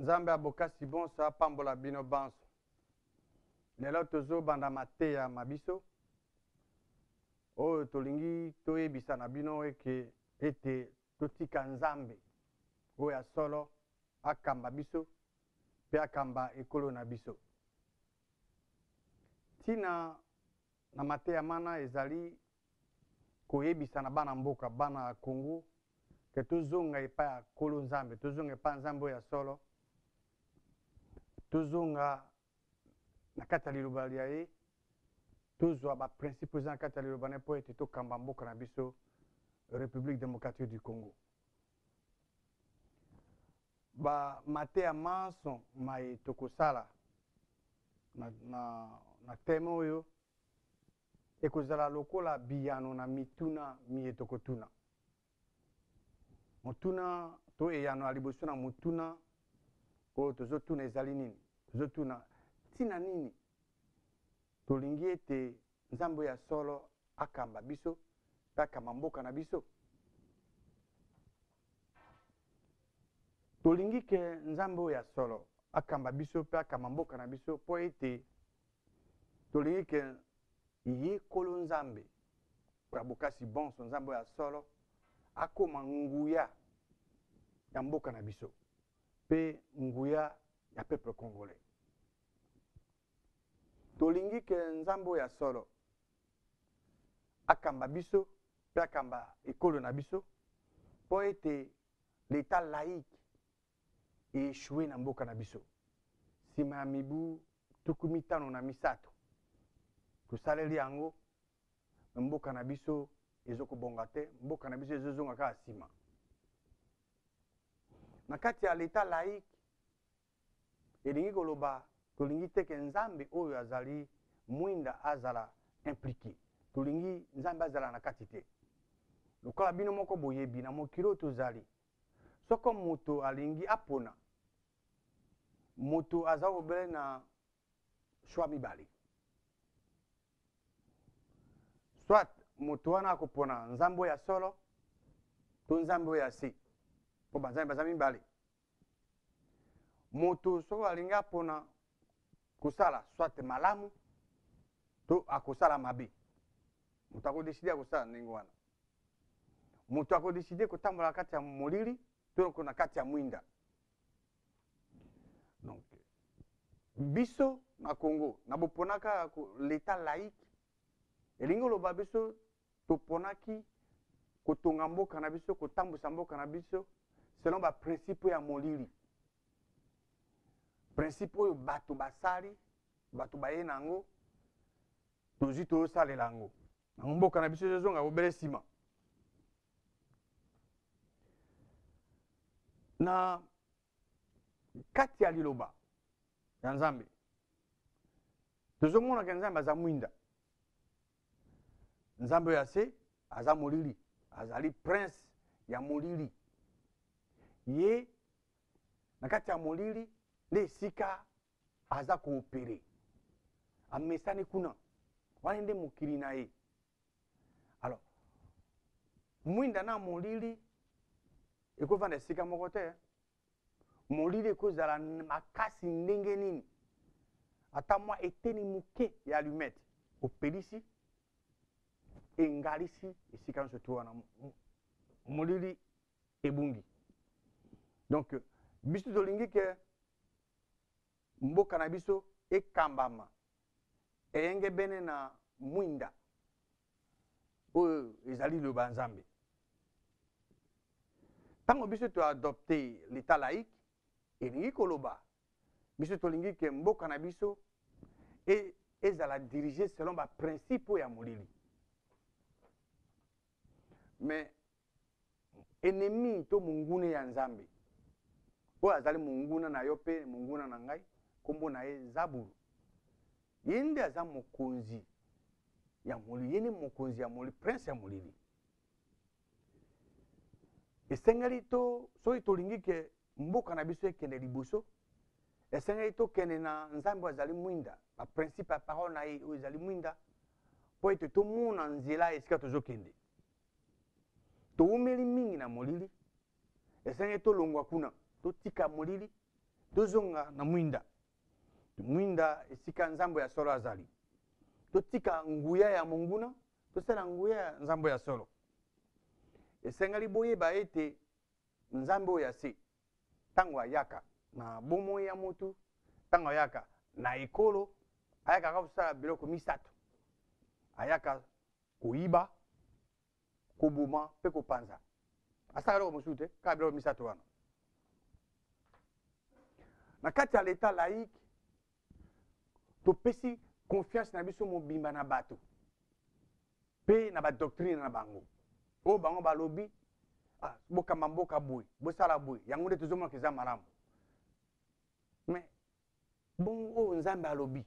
nzambe ya bokasi bonso apambola bino banso lelo tozobanda mateya ma biso oyo tolingi toyebisa na bino eke ete totika nzambe oyo ya solo akamba biso mpe akamba ekolo na biso Ntina na mateya mana ezali koyebisa na bana mboka, bana ya Congo, ke tozonga epai ya Nkolo Nzambe, tozonga epai ya Nzambe oyo ya solo, tozonga na kati ya liloba lya ye, tozwa ba principe eza na kati ya liloba na ye mpo ete tokamba mboka na biso Republique Democratique du Congo. Ba mateya manso maye tokosala na, na, na teme oyo ekozala lokola biyano na mituna miye tokotuna. Motuna to eyano ya liboso na motuna oyo tozotuna ezali nini? Tozotuna ntina nini tolingi ete Nzambe ya solo akamba biso mpe akamba mboka na biso? Tolingi ke Nzambe oyo ya solo akamba biso mpe akamba mboka na biso mpo ete tolingi ke ye kolo Nzambe ya bokasi bonso Nzambe oyo ya solo akoma nguya ya mboka na biso mpe nguya ya peuple congolais. Tolingi ke Nzambe oyo ya solo akamba biso mpe akamba ekolo na biso mpo ete leta laïque eechue na mboka na biso nsima ya mibu tuku mitano na misato tosaleli yango na mboka na biso ezokobonga te mboka na biso ezozonga kaka nsima na kati ya leta laïque Elingi koloba tolingi te ke Nzambe oyo azali mwinda azala implique. Tolingi Nzambe azala na kati te. Lokola bino moko boyebi, na mokili oyo tozali, soko moto alingi apona, moto aza obele na choix mibale. Soit moto wana akopona Nzambe oyo ya solo to Nzambe oyo ya se. Po Banzambe baza mibale. moto soki alingi apona kosala soit malamu to akosala mabe moto akodeside ya kosala ndenge wana moto akodeside kotambola na kati ya molili to na kati ya mwinda donc biso na congo na boponaka leta laïque elingi oloba biso toponaki kotonga mboka na biso kotambwisa mboka na biso selon baprincipe ya molili principe oyo bato basali bato baye na yango tozwi toyosalela yango yango mboka na biso ezozonga bobele nsima na kati ya liloba ya nzambe tozomonaka nzambe aza mwinda nzambe oyo ya se aza molili azali prince ya molili ye na kati ya molili nde esika aza koopere amesani kuna wana nde mokili na ye alors mwinda na molili ekovanda esika moko te molili ekozala makasi ndenge nini ata mwa eteni moke ya alumete opelisi engalisi esika nyonso to wana molili ebungi donc biso tolingi ke mboka na biso ekambama eyengebene na mwinda oyo ezali liloba ya nzambe ntango biso toadopte leta laïque elingi koloba biso tolingi ke mboka na biso e, ezala dirige selon baprincipe ya molili mais Enemi to mongune ya Nzambe. Oyo azali monguna na yo mpe monguna na ngai, nkombo na ye Zabulu. Ye nde aza mokonzi ya molili, ye nde mokonzi ya molili, prince ya molili. Esengeli to soki tolingi ke mboka na biso ekende liboso, esengeli tokende na Nzambe oyo azali mwinda, ba principe ya parole na ye oyo ezali mwinda, mpo ete tomona nzela esika tozokende. towumeli mingi na molili ezangi tolongwa kuna totika molili tozonga na mwinda mwinda esika nzambo ya solo azali totika nguya ya monguna tosala nguya ya nzambo ya solo esengeli boyeba ete nzambe oyo ya se ntango ayaka na bomoi ya motu ntango ayaka na ekolo ayaka kaka kosala biloko misato ayaka koyiba koboma mpe kopanza asalaka eloko mosusu te kaka biloko misato wana na kati ya leta laïque topesi confiance na biso mobimba na bato mpe na badoctrine na bango oyo bango balobi ah, bokamba mboka boye bosala boye yango nde tozomonaka eza malamu mais Bongo oyo Nzambe alobi.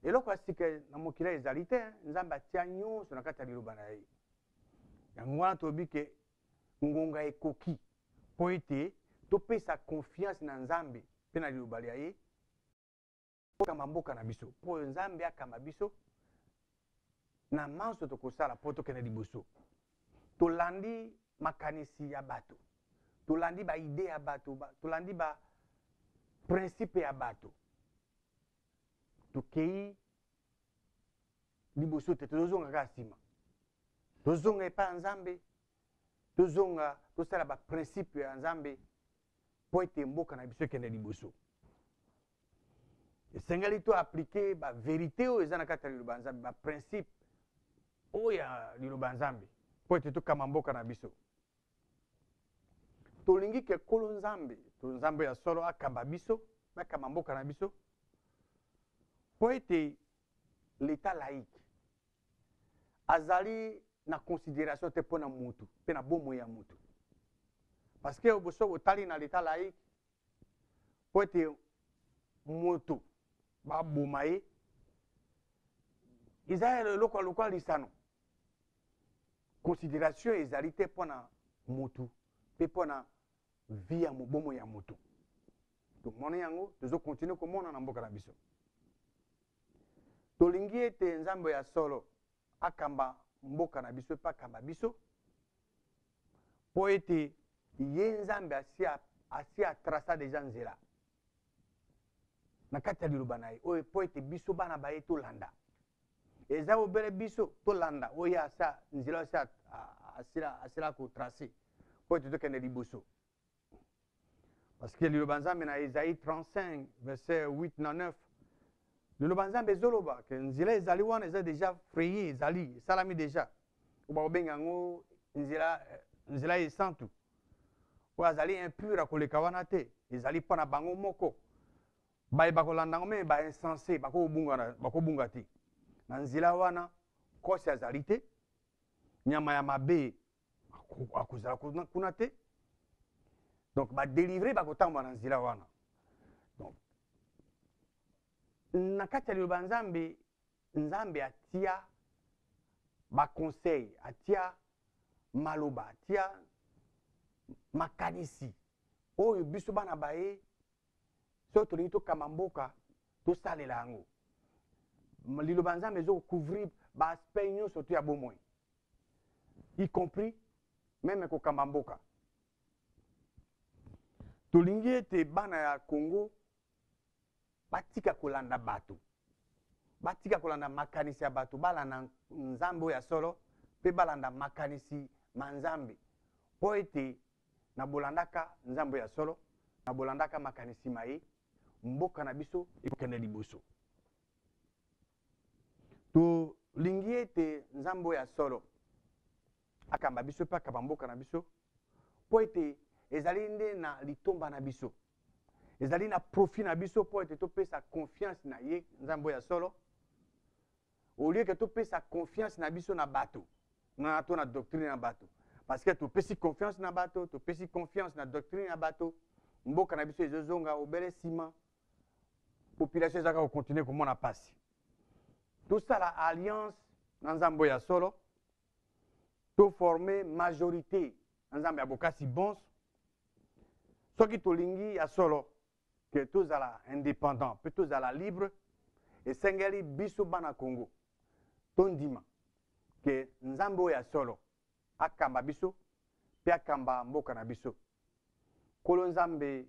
Eloko ya sika na mokili ezali te, Nzambe atia nyonso na kati ya liloba na ye. Yango wana tolobi ke ngonga ekoki mpo ete topesa konfianse na Nzambe mpe na liloba lya ye okamba mboka na biso mpo oyo Nzambe akamba biso na manso tokosala mpo tokende liboso. Tolandi makanisi ya bato, tolandi baide ya bato, ba, tolandi baprincipe ya bato. Tokei liboso te, tozozonga kaka nsima. Tozonga epai ya Nzambe, tozonga tosala baprincipe ya Nzambe, mpo ete mboka na biso ekende liboso esengeli to aplike baverité oyo eza na kati ya liloba ya nzambe baprincipe oyo ya liloba ya nzambe mpo ete tokamba mboka na biso tolingi ke kolo nzambe to nzambe ya solo akamba biso akamba mboka na biso mpo ete leta laïque azali na consideration te mpo na mutu mpe na bomoi ya mutu parce que boso botali na leta laïque mpo ete mutu baboma ye eza eloko ya lokola lisano consideration ezali te mpo na mutu mpe mpo na vi ya mobomo ya mutu tomoni yango tozo continue komona na mboka na biso Tolingi ete Nzambe ya solo akamba mboka na biso mpe akamba biso mpo ete ye Nzambe asi atrasa deja nzela na kati ya liloba na ye oyo mpo ete biso bana baye tolanda eza obele biso tolanda oyo asa nzela asi asila kotrace mpo ete tokende liboso Parce que liloba nzambe na Esaïe 35 verset 8 na 9 liloba nzambe ezoloba ke nzela ezali wana eza deja fraye ezali esalami deja oyo bakobenga yango nzela eh, nzela ya esantu oyo azali impure akoleka wana te ezali mpo na bango moko baye bakolanda yango meme bainsense bakobunga te na nzela wana nkosi azali te nyama ya mabe akozala kuna te donc badelivre bakotambola na nzela wana donc na kati ya liloba nzambe nzambe atia baconseil atia maloba atia makanisi oyo biso bana baye soki tolingi tokamba mboka tosalela yango liloba nzambe ezokouvrir baaspect nyonso to ya bomoi y compris meme kokamba mboka tolingi ete bana ya congo batika kolanda bato batika kolanda makanisi ya bato balanda nzambe oyo ya solo mpe balanda makanisi ma nzambe mpo ete na bolandaka nzambe ya solo na bolandaka makanisi ma ye mboka na biso ekokende liboso tolingi ete nzambe oyo ya solo akamba biso mpe akamba mboka na biso mpo ete ezali nde na litomba na biso ezali na profit na biso mpo ete topesa confiance na ye nzambe ya solo olie ke topesa confiance na biso na bato na to na doctrine na bato parce que topesi confiance na bato topesi confiance na doctrine ya bato mboka na biso ezozonga obele nsima population ezalaka kocontinue komona mpasi tosala alliance na nzambe oyo ya solo toforme majorité na nzambe ya bokasi bonso soki tolingi ya solo ke tozala indépendant mpe tozala libre esengeli biso bana congo tondima ke nzambe oyo ya solo akamba biso mpe akamba mboka na biso nkolo nzambe